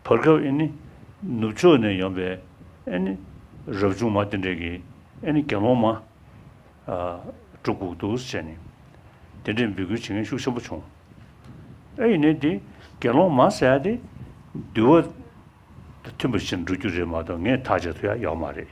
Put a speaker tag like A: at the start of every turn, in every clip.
A: བར་སྐབས་ཨེ་ནི། ནུབ་ཕྱོགས་ནས་ཡོང་པའི་ཨེ་ནི། རབ་བྱུང་མ་དེ་འདྲས་ཀྱིས་ཨེ་ནི་དགེ་སློང་མ། སྤྲུལ་སྐུ་གདུགས་སུ་བྱས་ནས། དེ་འདྲས་འབུལ་ཁུལ་བྱེད་མཁན་ཤུགས་ཆེན་པོ་བྱུང། ཨེ་ནི། དགེ་སློང་མ་ཟད་དེ། འདུལ་བ། དང་མཐུན་པ་ཞིག་འགྲོ་རྒྱུ་རེད་མ་གཏོགས་ངས་ཐག་བཅད་ཐུ་ཡག་ཡོག་མ་རེད།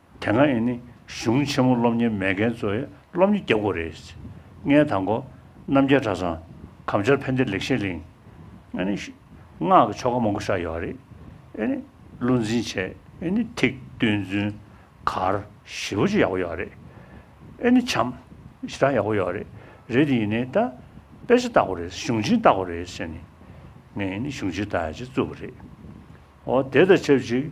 A: དེ་སྔ་ཡིན་ནི་གཞུང་ཆེན་མོ་སློབ་གཉེར་མེད་མཁན་ཚོའི་སློབ་གཉེར་རྒྱབ་སྒོ་རེད། ལྔའི་དང་པོ། རྣམ་རྒྱལ་གྲྭ་ཚང། གམ་ཆར་ཕན་བདེ་ལེགས་བཤད་གླིང། ཨེ་ནི། སྔགས་ཀྱི་ཆོ་ག་མང་པོ་བཞག་ཡོད་རེད། ཨེ་ནི། བློ་འཛིན་བྱས། ཨེ་ནི། ཐིག། བསྟོད་བརྫུན། གར། བཞི་པོ་ཅི་ཡག་པོ་ཡོད་རེད། ཨེ་ནི། བྱམས། ཞེ་དྲག་ཡག་པོ་ཡོད་རེད། རེད་དེ་ཡིན་ནི་ད། དཔེ་ཆ་བཏགས་པ་རེད། གཞུང་ཆེན་བཏགས་པ་རེད་ཟེར་ནི། ངས་ཡིན་ནི་གཞུང་ཆེན་བཏགས་ཡ་ཆེ་བཙུགས་པ་རེད། ཨོ། དེ་དང་ཆབས་ཅིག།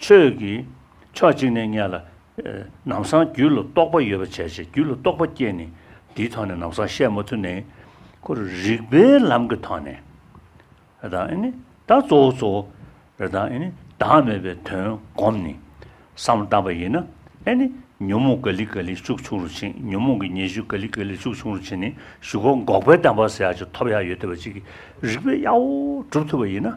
A: ཆོས་ཀྱི་ཕྱོགས་གཅིག་ནས་བསྙད་ལ། ནམ་བཟང་རྒྱུད་ལ་རྟོགས་པ་ཡོད་པ་བྱས་ཞེས་རྒྱུད་ལ་རྟོགས་པ་བསྐྱེད་ནས་འདིའི་ཐོག་ནས་ནམ་བཟང་བཤད་མ་ཐུབ་ནས། ཁོ་རུ་རིགས་པའི་ལམ་གྱི་ཐོག་ནས། རེ་དང་ཨེ་ནི། ད་གཙོ་བོ་གཙོ་བོ། རེ་དང་ཨེ་ནི། བདག་མེད་པའི་དོན་བསྒོམས་ནས། བསམ་བཏང་པ་ཡིན་ན། ཨེ་ནི། ཉོན་མོངས་ག་ལི་ག་ལི་ཤུགས་ཆུང་རུ་ཕྱིན་ཉོན་མོངས་ཀྱི་ཉེས་ཤུགས་ག་ལི་ག་ལི་ཤུགས་ཆུང་རུ་ཕྱིན་ནས་ཞུ་བ་འགོག་པའི་བདེན་པ་ཟེར་ཡག་ཅིག་ཐོབ་ཡག་ཡོད་བལྟ་བ་ཅིག་གིས་རིགས་པའི་གཡའ་བོ་སྒྲུབ་ཐུབ་པ་ཡིན་ན།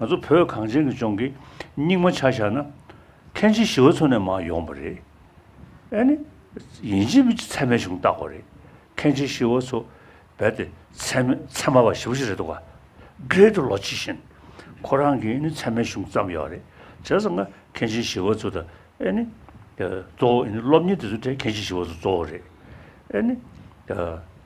A: ང་ཚོ་བོད་གངས་ཅན་གྱི་ལྗོངས་ཀྱི་སྙིགས་མ་ཆ་བཞག་ན། མཁན་ཆེན་ཞི་བ་འཚོ་ནས་མ་ཡོང་པ་རེད། ཨེ་ནི། ཡིན་གཅིག་མིན་གཅིག་ཚད་མའི་གཞུང་བཏགས་པ་རེད། མཁན་ཆེན་ཞི་བ་འཚོ་རྦད་དེ་ཚད་མའི་ཚད་མ་བ་ཞིབ་ཅིག་རེད་འདུག་ག། སྒེར་དུ་ལོ་ཕྱེད་བཞིན། ཁོ་རང་གིས་ཨེ་ནི་ཚད་མའི་གཞུང་བརྩམས་ཡོད་རེད། བྱས་ཙང་ང་མཁན་ཆེན་ཞི་བ་འཚོ་དང་ཨེ་ནི། གཙོ་བོ་ཨེ་ནི་སློབ་གཉེར་དེ་ཚོའི་གྲས་མཁན་ཆེན་ཞི་བ་འཚོ་གཙོ་བོ་རེད། ཨེ་ནི།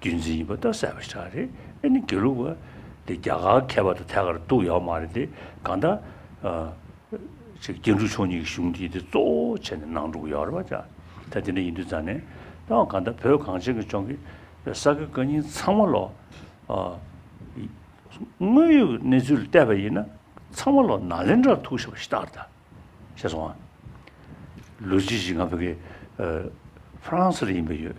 A: རྒྱུན་འཛིན་ཡིན་པ་ལྟར་གསལ་བ་ཞིག་ཆགས་རེད་ཨེ་ནི་དགེ་ལུགས་པ་དེ་རྒྱ་གར་མཁས་པ་དང་ཐད་ཀར་གཏུགས་ཡོད་མ་རེད་དེ་གང་ལྟར། ཆེ་རྒྱལ་འབྲུག་ཆུང་གཉིས་ཀྱི་གཞུང་འདི་དེ་གཙོ་བོ་བྱས་ནས་ནང་འགྲོ་གི་ཡོད་རེད་བ་ཅག་ད་དེ་འདྲ་ཡིན་དུས་རྫ་ནས་ཏང་གང་ལྟར་བོད་གངས་ཅན་གྱི་ལྗོངས་ཀྱི་ས་དགེ་བཀའ་རྙིང་ཚང་མ་ལོ། དངོས་ཡོད་ཀྱི་གནས་ཚུལ་ལ་བལྟས་པ་ཡིན་ན་ཚང་མ་ལོ་ན་ལེན་དྲར་ཐུག་ཤེས་པ་ཞིག་རྟག་རེད་ད་ཤེས་སོང་ང། ལོ་རྗེས་ཤིག་ང་ཕ་གི་ཧྥ་རན་སི་རུ་ཡིན་པ་ཡོད།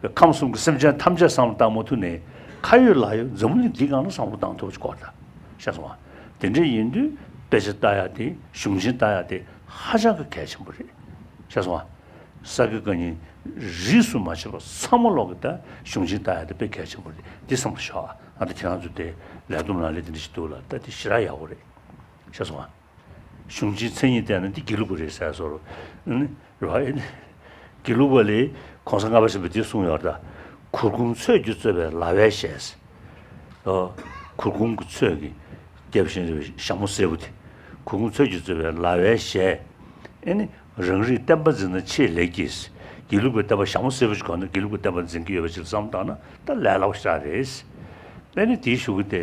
A: པའི་ཁམས་གསུམ་གྱི་སེམས་ཅན་ཐམས་ཅད་བསམ་བློ་བཏང་མུ་མཐུད་ནས། ཁ་ཡོད་ལག་ཡོད་འཛིན་མུ་ནས་འདི་གང་ལ་བསམ་བློ་བཏང་ཐུབ་པ་ཅིག་གོ་ད། ཤེས་སོང་ང། དེ་འདྲ་ཡིན་དུས་དཔེ་ཆ་ལྟ་ཡག་དེ་གཞུང་ཆེན་ལྟ་ཡག་དེ་ཧ་ཅང་གི་གལ་ཆེན་པོ་རེད། ཤེས་སོང་ང། ས་དགེ་བཀའ་རྙིང། རིས་སུ་མ་ཕྱེ་བ་ཚང་མ་ཀློག་གི་ད་གཞུང་ཆེན་ལྟ་ཡག་དེ་དཔེ་གལ་ཆེན་པོ་རེད་འདི་བསམ་གི་ཤོག་ང་ད་ཁྱེད་རང་ཚོ་དེ་ལས་བསྡོམས་ལ་ལས་དེ་འདྲ་ཞིག་འདུག་ལ་ད་དེ་ཞི་རག་ཡག་པོ་རེད། ཤེས་སོང་ང། གཞུང་ཆེན་མཚན་ཉིད་བསྟན་ན་འདི་དགེ་ལུགས་པ་རེད་ཟེར་སོ། རེད་བ། དགེ་ལུགས་པ་ལས་གོང་ས་ལྔ་པ་ཞེས་པ་འདི་གསུངས་ཡོད་ད། གུར་གུམ་ཚོད་ཀྱིས་གཙོས་པའི་ལྭ་བས་བྱས། ཨོ། གུར་གུམ་གྱི་ཚོད་ཀྱིས། རྒྱལ་བུ་ཤིང་རི་བའི་ཞྭ་མོ་སེར་པོ་དེ། གུར་གུམ་ཚོད་ཀྱིས་གཙོས་པའི་ལྭ་བས་བྱས། ཨེ་ནི། རང་རིགས་བསྟན་པ་འཛིན་ན་ཆེས་ལེགས་ཀྱིས། དགེ་ལུགས་པའི་བསྟན་པ་ཞྭ་མོ་སེར་པོ་ཞིག་གོ་ན་དགེ་ལུགས་པའི་བསྟན་པ་འཛིན་གྱི་ཡོད་པ་ཞིག་བསམ་བཏང་ན་ད་ལས་སླ་བོ་ཤ་རེད། ཨེ་ནི་དེའི་ཞུ་གི་དེ།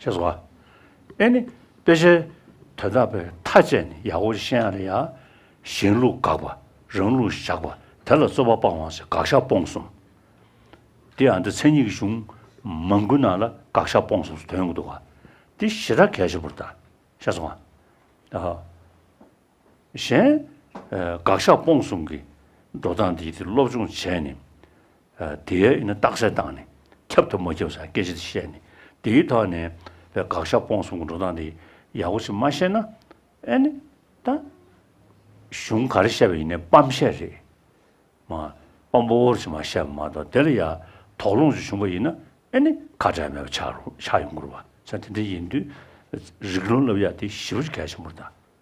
A: ཞེས་སོ། ཨེ་ནི། དཔེ་ཆའི་དོན་དག་པའི་མཐའ་དཔྱད་ནི་ཡ་ཧོ་ཤེ་ཡཱ་ལ་ཡང། གཞན་ལུགས་དགག་པ་རང་ལུགས་བཞག་པ་དེ་ལ་རྩོད་པ་སྤང་བ་ཞེས་དགག་བཞག་སྤོང་གསུམ། འདི་ཡང་འདི་མཚན་ཉིད་ཀྱི་གཞུང་མང་ཀུན་སྣང་ལ་དགག་བཞག་སྤོང་གསུམ་སུ་དོན་གྱི་འདུ་བ། འདི་བཞི་དག་གལ་ཆེན་པོར་ལྟ། ཞེས་སོ། གཞན། དགག་བཞག་སྤོང་གསུམ་གྱི་འགྲོ་སྟངས་འདི་དེ་སློབ་སྦྱོང་བྱས་ནས། དེའི་རྟགས་གསལ་བཏང་ནས་ཁྱབ་ཐབས་མ་ཁྱབ་སོགས་སྐད་ཆ་དེ་བཤད་ནས་དེའི་ཐོག་ནས་བའི་དགག་བཞག་སྤོང་གསུམ་གྱི་འགྲོ་སྟངས་དེ་ཡག་པོ་ཞིག་མ་ཤེས་ན། ཨེ་ནི། ད། གཞུང་ག་རེ་བཤད་པ་ཡིན་ནའི་སྤམ་བཤད་རེད། མ། སྤམ་པོ་བོར་ཞིག་མ་བཤད་པ་མ་གཏོགས་དེ་ལ་ཡ། དོགས་སློང་ཞིག་བྱུང་པ་ཡིན་ན་ཨེ་ནི། ཁ་བྲལ་མེད་པ་ཆགས་ཡོང་དགོས་རུང་བ་ཚ་དེ་འདྲ་ཡིན་དུས། རིགས་ལུང་སློབ་ཡ་དེ་ཞིབ་རུ་གལ་ཆེན་པོར་ད།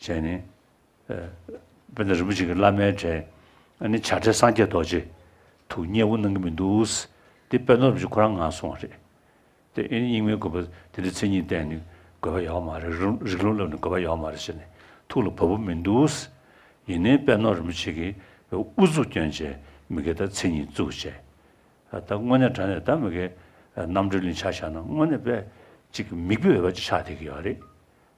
A: བྱས་ནས། དཔེ་ན་རིན་པོ་ཆེ་གི་བླ་མའི་གྲས། ནི་བྱ་བྲལ་སངས་རྒྱས་རྡོ་རྗེ། དུ་བསྙེན་བུ་གནང་གི་མི་འདུག། དེ་དཔེ་ནོར་རིན་པོ་ཆེ་ཁོ་རང་ངང་སོང་བ་རེད། དེ་ཨེ་ནི་རྙིང་མའི་དགོས་པ་དེ་འདྲའི་མཚན་ཉིད་བསྟན་ནས་དགོས་པ་ཡོད་མ་རེད། རིགས་ལུང་བསླབ་ནས་དགོས་པ་ཡོད་མ་རེད་ཟེར་ནས་ཐུགས་ལ་བབ་པོ་མི་འདུག། ཡིན་ནའི་དཔེ་ནོར་རིན་པོ་ཆེ་གི་བའི་དབུ་གཙུག་བསྐྱོན་བྱས་མི་དགེ་ད་མཚན་ཉིད་བཙུགས་བྱས། ད་དངོས་གནས་དྲ་ནས་ད་མི་དགེ། རྣམ་གྲོལ་ལིང་ཆ་བཞག་ན་དངོས་གནས་དཔེ་གཅིག་གི་མིག་དཔེ་འོས་པ་གཅིག་ཆགས་བསྡད་ཀྱི་ཡོད་རེད།